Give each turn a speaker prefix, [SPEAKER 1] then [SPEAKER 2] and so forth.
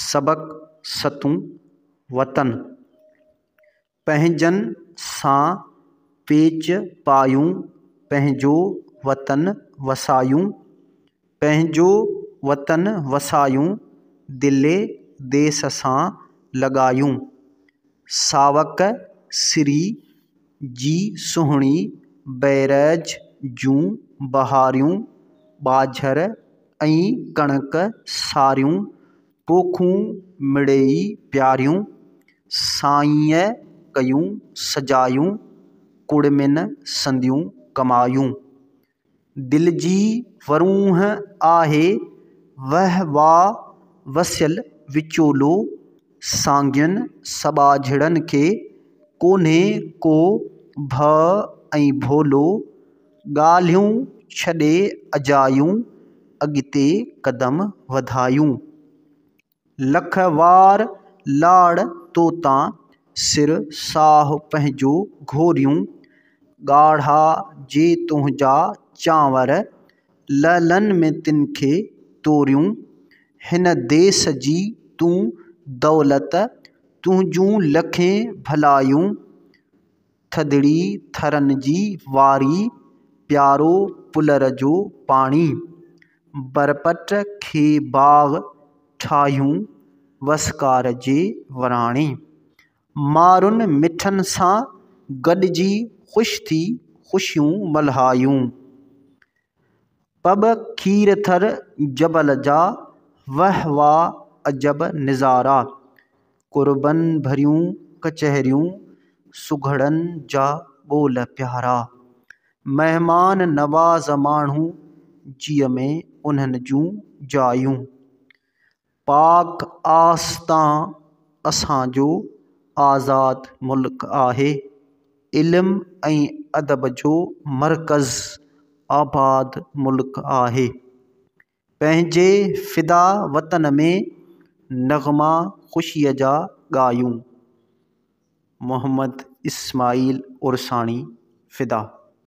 [SPEAKER 1] سبق ستون، وطن پنهنجن سان پيچ پايون، پنهنجو وطن وسايون، پنهنجو وطن وسايون، دل ديس سان لڳايون. ساوڪ سري جي سهڻي بئريج جون ٻهاريون، ٻاجهر ۽ ڪڻڪ ساريون، پوکون مڙيئي پياريون، سائينء ڪيون سجايون، ڪڙمين سنديون ڪمايون. دل جي ورونهه آهي وهوا وسيل وچولو سانگين سٻاجهڙن کي ڪونهي ڪو ڀء ۽ ڀولو ڳالهيون ڇڏي اجايون اڳتي قدم وڌايون لک وار لاڙ تو تان، سر ساهه پنهنجو گهوريون، ڳاڙها جي تنهنجا چانور، لعلن ۾ تن کي توريون، هن ديس جي تون دولت، تنهنجون لکين ڀلايون. ٿڌڙي ٿرن جي واري، پيارو پلر جو پاڻي. برپٽ کي باغ ٺاهيون، وسڪار جي وراڻي. مارن مٺن سان گڏجي، خوش ٿي خوشيون ملهايون. پٻ کير ٿر جبل جا، وه واه عجب نظارا. قربن ڀريون ڪچهريون، سگهڙن جا ٻول پيارا. مهمان نواز ماڻهو، جيء ۾ انهن جون جايون. پاڪ آستان اسان جو آزاد ملڪ آهي، علم ۽ ادب جو مرڪز آباد ملڪ آهي. پنهنجي فدا وطن ۾ نغما خوشيء جا ڳايون. محمد اسماعيل عرساڻي، فدا.